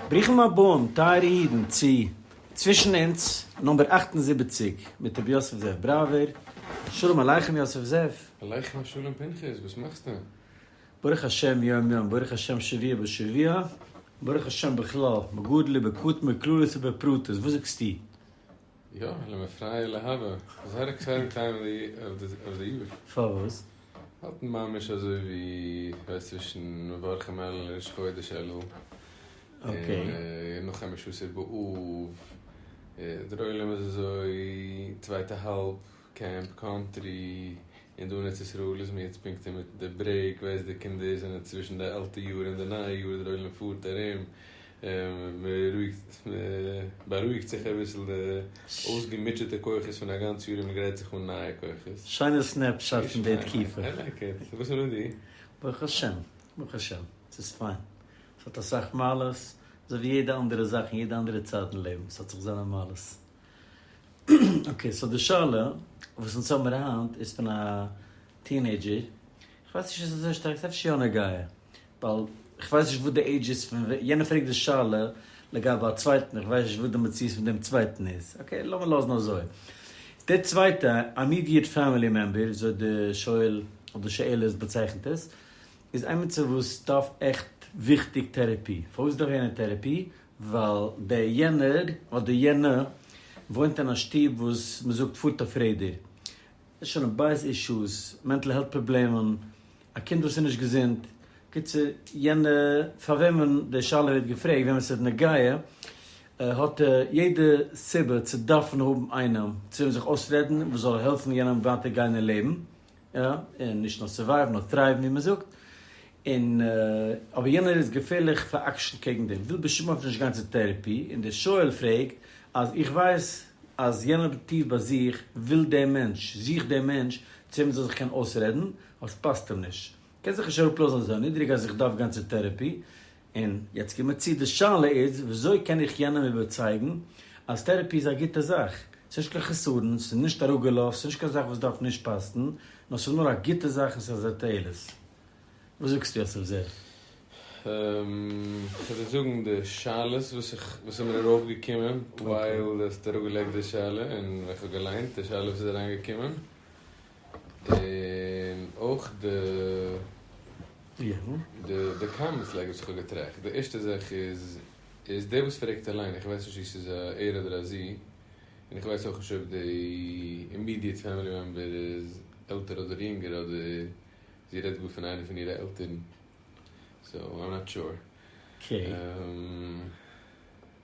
ברוכים הבאים, טייערע אידן, צו צווישן אונז נומבער אַכט און זיבעציק מיט רבי יוסף זאב בראווער. שלום עליכם יוסף זאב. עליכם השלום פנחס, וואס מאכסטו? ברוך השם יום יום, ברוך השם שבוע בשבוע, ברוך השם בכלל, בגודל ובקטן, בכללות ובפרטות, וואס זאגסטו? יא, לאמיר פרייע להבא, איז ער עקסייטעד טיים אוו די יאר. פארוואס? האט ממש אזוי ווי ווייסט צווישן מברכים אלול און ראש חודש אלול. און נאך חמש עשרה באב איז דער עולם אזוי צווייטע האלב. קעמפ קאנטרי און דא אין ארץ ישראל איז מען יעצט פונקט אינמיטן די ברעיק ווייסט די קינדער זענען צווישן די אלטע יאר און די נייע יאר דער עולם פארט ארום מ'בארואיגט זיך אביסל די אויסגעמוטשעטע כוחות פון א גאנץ יאר און מ'גרייט זיך אן נייע כוחות. שיינע סנעפ שאט פון די תקופה. איי לייק איט. וואס איז מיט דיר? ברוך השם, ברוך השם, ס'איז פיין. ס'האט אסאך מעלות, אזוי ווי יעדע אנדערע זאך און יעדע אנדערע צייט אין לעבן, ס'האט זיך זיינע מעלות. אקעי, סאו די שאלה וואס אונז האבן היינט איז פון א טינעידזשער, איך ווייס נישט איז עס אזוי שטארק, ס'איז אפשר יא נוגע, ווייל איך ווייס נישט וואס די עידזש איז פון וועם, יענער פרעגט די שאלה לגבי א צווייטן, איך ווייס נישט וואס די מציאות פון דעם צווייטן איז, אקעי, לאמיר לאזן אזוי. דער צווייטע, אימידיעט פעמילי מעמבער, אזוי די שואל אדער שואלת באצייכנט עס, איז עמיצער וואס דארף עכט וויכטיג טעראפי. פארוואס דארף יענער טעראפי? ווייל דער יענער אדער יענע וואוינט אין א שטוב וואס מען זאגט פארט אויף רעדער, שלום בית אישוס, מענטל העלט פראבלעמען, א קינד וואס איז נישט געזונט, קיצור יענע פאר וועמען די שאלה ווערט געפרעגט וועם עס איז נוגע, האט ער יעדע סיבה צו דארפן האבן איינעם צו וועם זיך אויסרעדן וואס זאל העלפן יענעם ווייטער גיין אין לעבן. יא, און נישט נאר סורווייוו נאר טרייוון ווי מען זאגט, און אבער יענער איז געפערליך פאר'עקשנ'ט קעגן דעם, וויל בשום אופן נישט גיין צו טערעפי, און דער שואל פרעגט אז איך ווייס אז יענער טיף ביי זיך וויל דעם מענטש, זוכט דעם מענטש צו וועם ער זאל זיך קענען אויסרעדן, אבער ס'פאסט אים נישט, קען זיך נישט אראפלאזן אזוי נידריג אז איך דארף גיין צו טערעפי, און יעצט קומער צו, די שאלה איז וויאזוי קען איך יענעם איבערצייגן אז טערעפי איז א גוטע זאך, ס'איז נישט קיין חסרון, ס'איז נישט א רוגלות, ס'איז נישט קיין זאך וואס דארף נישט פאסטן, נאר ס'איז נאר א גוטע זאך און ס'איז א תועלת. וואס זאגסטו יוסף זר? איך וועל זאגן די שאלות וואס איך וואס איז מיר ארויף געקומען ווייל דו האסט אראפגעלייגט די שאלה און ווען איך האב געליינט די שאלה וואס איז אריינגעקומען און אויך די די קאמענטס לייג וואס איך האב געטראכט, די ערשטע זאך איז איז דער וואס פרעגט אליין, איך ווייס נישט צו ס'איז א ער אדער א זי, און איך ווייס אויך נישט אויב די אימידיעט פעמילי מעמבער איז עלטער אדער יונגער אדער זי רעדט גאר פון איינער פון אירע עלטערן, סאו איים נאט שור.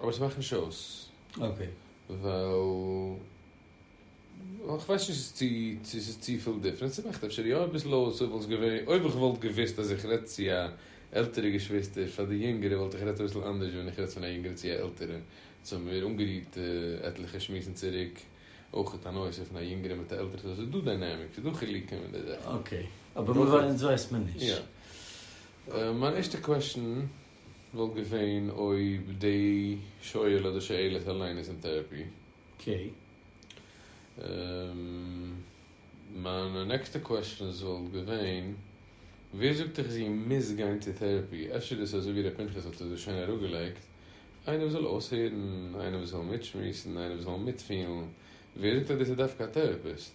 אבער ס'מאכט נישט אויס. אקעי. ווייל איך ווייס נישט צו צו ס'איז צופיל דיפרענס, ס'מאכט אפשר יא אביסל אויס אויב וואלט געווע אויב איך וואלט געוויסט אז איך רעדט צו א עלטערע געשוויסטער פאר די יונגערע וואלט איך רעדט אביסל אנדערש ווען איך רעדט פון א יונגערע צו א עלטערע. יעצט האבן מיר אנגערירט עטליכע שמועסן צוריק אויכעט א נושא פון א יונגערע מיט א עלטערע סאו ס'איז דא דיינעמיק ס'איז דא חילוקים אין די זאכן. אקעי. אבער מ'ווייסט מ'נישט. יא. מיין ערשטע קוועשן וואלט געווען אויב די שואל אדער שואלת אליין איז אין טערעפי. קעי. מיין נעקסטע קוועשנס וואלט געווען, ווער זאגט דיך זי מוז גיין צו טערעפי, אפשר דאס אזוי ווי ר' פנחס האט עס דא שיין אראפגעלייגט, איינער וואס זאל אויסהערן, איינער וואס זאל מיטשמועסן, איינער וואס זאל מיטפילן, ווער זאגט אז דאס איז דווקא א טערעפיסט?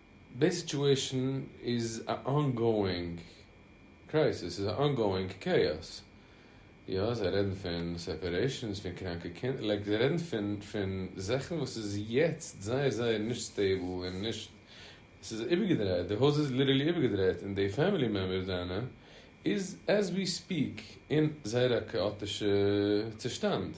די סיטואשען איז א אנגאואינג קרייסיס, ס'איז א אנגאואינג קעיאס, יא זיי רעדן פון סעפערעישאנס, פון קראנקע קינדער, לייק זיי רעדן פון פון זאכן וואס איז יעצט זייער זייער נישט סטעיבל און נישט, ס'איז איבערגעדרייט, די הויז איז ליטערלי איבערגעדרייט און די פעמילי מעמבערס דיינע איז עז ווי ספיעק אין זייער א כאאטישע צושטאנד.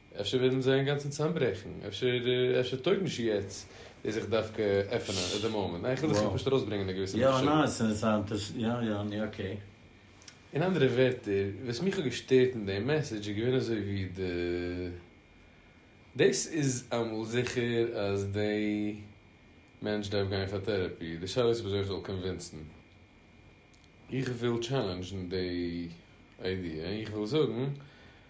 אפשר וועלן זיי אינגאנצן צוזאמברעכן, אפשר אפשר טויג נישט יעצט דאס זיך דווקא עפענען עט די מאמענט, ניין איך וויל זיך פשוט ארויסברענגען א געוויסע מחשבה. אין אנדערע ווערטער, וואס מיך האט געשטערט אין דעם מעסעדזש איז געווען אזוי ווי די, דאס איז אמאל זיכער אז די מענטש דארף גיין פאר טערעפי, די שאלה איז וויאזוי איך זאל קאנווינסן. איך וויל טשעלענדזשן די איידיע, איך וויל זאגן.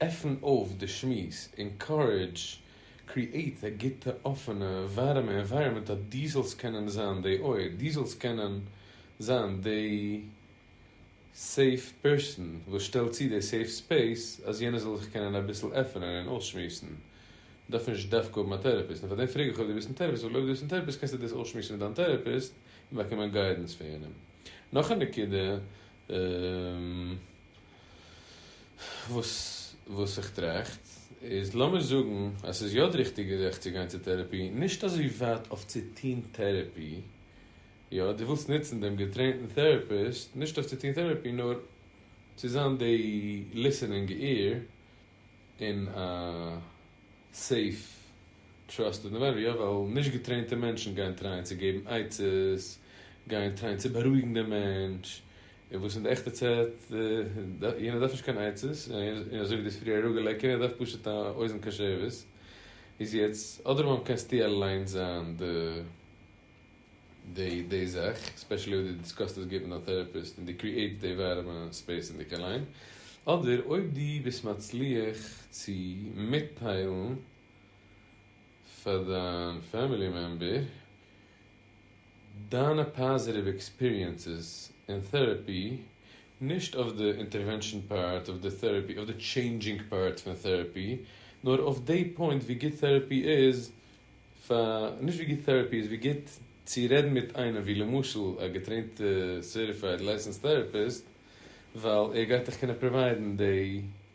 עפן אויף די שמועס, אינקארעדזש, קריעט א גוטע אפענע ווארעמע ענווייראמענט אז דו זאלסט קענען זיין די אויער, דו זאלסט קענען זיין די סעיף פערסאן וואס שטעלט צו די סעיף ספעיס אז יענער זאל זיך קענען אביסל עפענען און אויסשמועסן, דארף נישט דווקא האבן א טערעפיסט, און פארדעם פרעג איך אויב דו ביסט אין טערעפיסט ווייל אויב דו ביסט אין טערעפיסט קענסטו דאס אויסשמועסן מיט דיין טערעפיסט און באקומען גיידענס פון יענעם. נאך א נקודה. וואס וואס איך טראכט איז, לאמיר זאגן אז ס'איז יא די ריכטיגע זאך צו גיין צו טערעפי, נישט אזוי ווייט אויף צו טון טערעפי, יא, דו ווילסט נוצן דעם געטרעינטן טערעפיסט, נישט אויף צו טון טערעפי, נאר צו זיין די ליסענינג עיר אין א סעיף טראסטעד ענווייראמענט, יא, ווייל נישט געטרעינטע מענטשן גייען טרייען צו געבן עצות, גייען טרייען צו בארואיגן דעם מענטש, און וואס איז די עכטע צעט? יענער דארף נישט קיין עצות, און אזוי ווי די פריערע ראגע לעקער, ער דארף פשוט א אוזן קשבת. איז יעצט, אדרבא קענסטו אליינס זיין די די זאך, ספעשעלי אויב די דיסקאסט עס גוט מיט א טעראפיסט און די קריעיט די ווארעמע ספעיס אין דיך אליין, אדער אויב די ביסט מצליח צו מיטטיילן, פאר דיין פעמילי מעמבער, דיינע פאזיטיוו עקספיריענסעס אין טעראפי, נישט אויף די אינטערווענשאן פארט אויף די טעראפי, אויף די טשעינדזשינג פארט פון טעראפי, נאר אויף די פוינט ווי גוט טעראפי איז פאר, נישט ווי גוט טעראפי איז, ווי גוט צו רעדן מיט איינעם ווי למשל א געטרעינטע סערטיפייד לייסענסד טעראפיסט, ווייל ער גייט דיך קענען פראוויידן די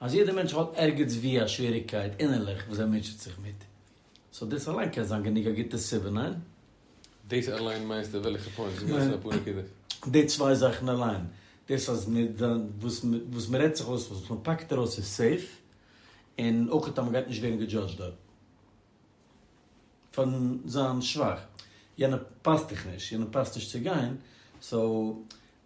אז יעדע מענטש האט ערגעץ ווי א שוועריגקייט אינערליך וואס ער מוטשעט זיך מיט, סאו דאס אליין קען זיין גענוג א גוטע סיבה, ניין? דאס אליין מיינסטו וועלכע פוינט? ס'איז געווען אויף אפאר נקודות. די צוויי זאכן אליין, דאס אז וואס מ'רעדט זיך אויס, וואס מ'פאקט ארויס איז סעיף, און אויך אז מ'גייט נישט ווערן געדזשאדזשד דארט. פארן זיין שוואך, יענע פאסט דיך נישט, יענע פאסט נישט צו גיין, סאו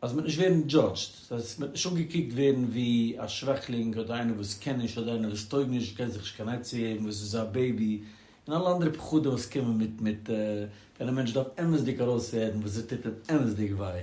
אז מען וועט נישט ווערן דזשאדזשד, סאו אז מען וועט נישט אנגעקוקט ווערן ווי א שוועכלינג אדער איינער וואס קען נישט אדער איינער וואס טויג נישט קען זיך נישט קיין עצה געבן וואס איז א בעיבי און אלע אנדערע פחדים וואס קומען מיט מיט ווען א מענטש דארף אמת'דיג ארויסרעדן וואס עס טוט אים אמת'דיג וויי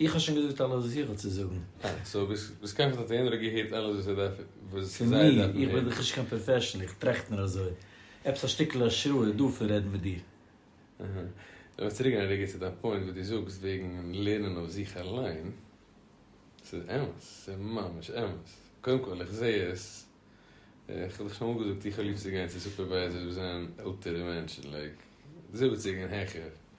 איך האב שוין געזאגט אלעס וואס איך האב צו זאגן. אה, סאו ביז כעת האט יענער געהערט אלעס וואס ער דארף וואס זיי דארפן הערן. פון מיר? איך בין דאך נישט קיין פראפעשענעל, איך טראכט נאר אזוי. עפעס א שטיקל השראה איז דא פון רעדן מיט דיר. אהה. לאמיר צוריקגיין א רגע צו דיין פוינט וואס דו זאגסט וועגן לערנען אויף זיך אליין. ס'איז אמת, ס'איז ממש אמת. קודם כל, איך זע עס, איך האב דיך שוין אמאל געזאגט, איך האב ליב צו גיין צו סופערווייזערס וואס זענען עלטערע מענטשן, לייק זיבעציג און העכער.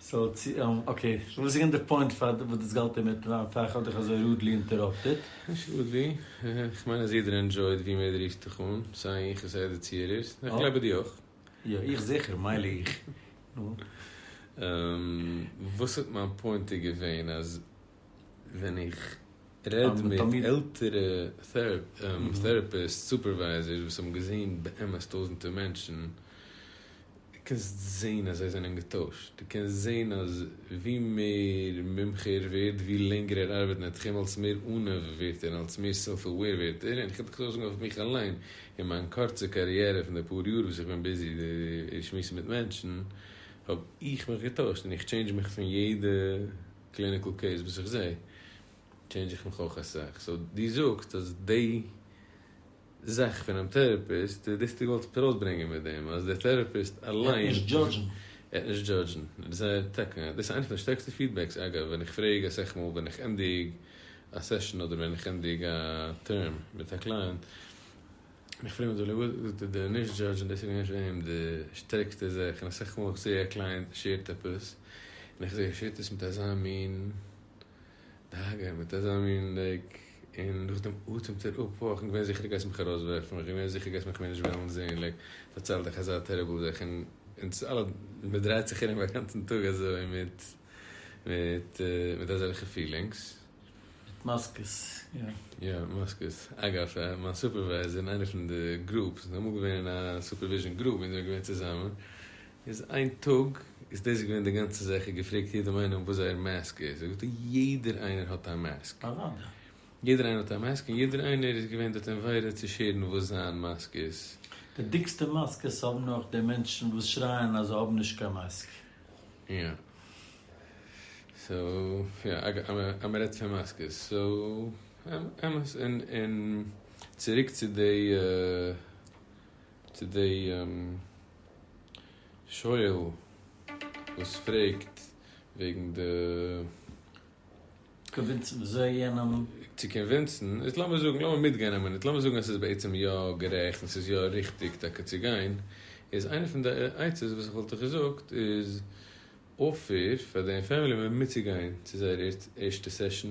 סאו צו און אקעי וואס איז געווען די פוינט פאר וואס דאס גאלט אינמיטן זיין פאר איך האב דיך אזוי רודלי אינטעראפטעט? נישט רודלי, איך מיין אז יעדער ענדזשויט ווי מער דו רופסט דיך אן, סיי איך און סיי די צוהערערס, און איך גלייב אז דו אויך. יא איך זיכער, מילא איך, נו. וואס האט מיין פוינטע געווען אז. ווען איך רעד מיט עלטערע טעראפיסט סופערווייזערס וואס האבן געזען באמת טויזענטער מענטשן, דו קענסט זען אז זיי זענען געטוישט, דו קענסט זען אז ווי מער מומחה ער ווערט, ווי לענגער ער ארבעט אין תחום, אלס מער עניו ווערט ער, אלס מער סעלף עוועיר ווערט ער, און איך קען זאגן אויף מיך אליין, אין מיין קורצע קאריערע פון די פאר יאר וואס איך בין ביזי שמועסן מיט מענטשן, האב איך מיך געטוישט און איך טשעינדזש מיך פון יעדע. קליניקל קעיס וואס איך זעה טשעינדזש איך מיך אויך אסאך, סאו דו זאגסט אז די זאך פונעם טעראפיסט איז דאס דו ווילסט ארויסברענגען מיט דעם אז דער טעראפיסט אליין ער וועט נישט דזשאדזשן. ער וועט נישט דזשאדזשן זייער טאקע דאס איז איינס פון די שטערקסטע פידבעקס אגב ווען איך פרעג אסאך מאל ווען איך ענדיג א סעשאן אדער ווען איך ענדיג א טערם מיט א קלייענט, און איך פרעג מיך דא לעבאו, זאגט ער די נישט דזשאדזש און דאס איז געווען פון אים די שטערקסטע זעך, און אסאך מאל איך זעה א קלייענט שעירט עפעס, און איך זעה ער שעירט עס מיט אזא מין דאגה, מיט אזא מין לייק, און נאכדעם אטעמט ער אפ, אוי כ'בין געווען זיכער דו גייסט מיך ארויס ווערפן, איך בין געווען זיכער דו גייסט מיך מער נישט וועלן זעהן, לייק פארצייל דיך אזא טעריבל זאך, און אונז אלע מען דרייט זיך ארום אגאנצן טאג אזוי מיט מיט מיט אזעלכע פילינגס. מיט מאסקעס, יא. יא, מאסקעס. אגב, מיין סופערווייזער אין איינע פון די גרופס, מ'איז אמאל געווען אין א סופערוויזשען גרופ ווען זיי זענען געווען צוזאמען, איז איין טאג, איז דאס געווען די גאנצע זאך, ער געפרעגט יעדעם איינעם וואס זייער מאסק איז, זאגט ער יעדער איינער האט א מאסק. אוודאי. יעדער איינער האט א מאסק, און יעדער איינער איז געווען דארט אין וועדה צו שעירן וואס זיין מאסק איז. די דיקסטע מאסקעס האבן נאך די מענטשן וואס שרייען אז זיי האבן נישט קיין מאסק. יא סאו יא אז מען רעדט פון מאסקעס סאו אמת און און צוריק צו די צו די שואל וואס פרעגט וועגן די. קאנווינסן אזוי יענעם. צו קאנווינסן איז לאמיר זאגן לאמיר מיטגיין א מינוט לאמיר זאגן עס איז בעצם יא גערעכט און ס'איז יא ריכטיג טאקע צו גיין איז איינע פון די עצות וואס איך וואלט דיך געזאגט איז אפער פאר דיין פעמילי מעמבער מיטצוגיין צו זייער ערשטע סעשאן.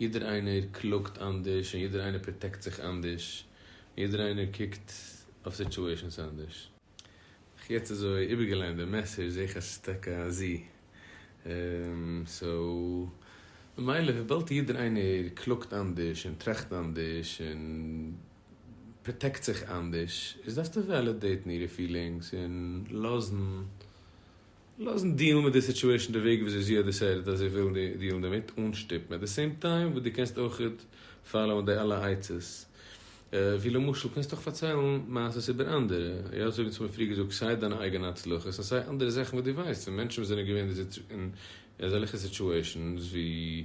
יעדער איינער קלאגט אנדערש און יעדער איינער פראטעקט זיך אנדערש און יעדער איינער קוקט אויף סיטועשענס אנדערש. איך יעצט אזוי איבערגעליינט די מעסעדזש זעה איך אז ס'איז טאקע א זי און סאו ממילא וויבאלד יעדער איינער קלאגט אנדערש און טראכט אנדערש און פראטעקט זיך אנדערש איז דארפסטו וועלידעיטן אירע פילינגס און לאזן לאזן דיעלן מיט די סיטואעישן די וועג וויאזוי זי האט דיסיידעט אז זי וויל דיעלן דערמיט אן שטופן עט די סעים טיים וואס דו קענסט אויכעט פאלאוען די אלע עצות ווי למשל קענסטו אויך פארציילן מעשות איבער אנדערע יא אזוי ווי צומאל פריער געזאגט סיי דיינע אייגענע הצלחות און סיי אנדערע זאכן וואס דו ווייסט פון מענטשן וואס זענען געווען אין אזעלכע סיטואעישנס ווי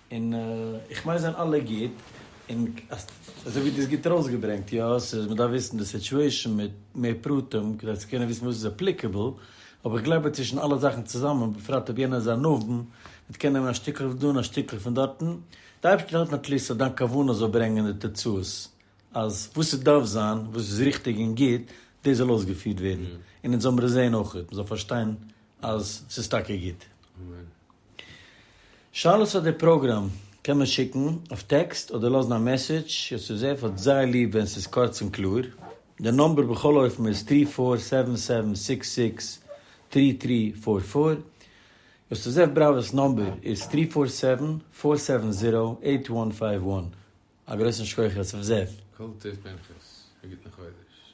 און איך מיין זענען אלע גוט, און אזוי ווי דו האסט גוט ארויסגעברענגט, יא ס'איז מ'דארף וויסן די סיטועשאן מיט מער פרטים כדי צו קענען וויסן וואס איז אפליקעבל, אבער איך גלייב אז צווישן אלע זאכן צוזאמען, בפרט אויב יענער איז א נבון, מען קען נעמען א שטיקל פון דא און א שטיקל פון דארטן, די אייבערשטער האט נאט ליסט אז דיין כוונה זאל ברענגען די תוצאות, אז וואס ס'דארף זיין, וואס איז ריכטיג און גוט, דאס זאל אויסגעפירט ווערן, און אונז זאל מיר עס זען אויך, מ'זאל פארשטיין אז ס'איז טאקע גוט. שאלות פאר די פראגראם קען מען שיקן אויף טעקסט אדער לאזן א מעסעדזש, יוסף זאב האט זייער ליב ווען ס'איז קורץ און קלאר. די נאמבער בכל אופן איז טרי פאר סעווען סעווען סיקס סיקס טרי טרי פאר פאר. יוסף זאב בראווער'ס נאמבער איז טרי פאר סעווען פאר סעווען זירא עיט וואן פייוו וואן. א גרויסן שכח יוסף זאב. כל טוב פנחס, א גוטן חודש.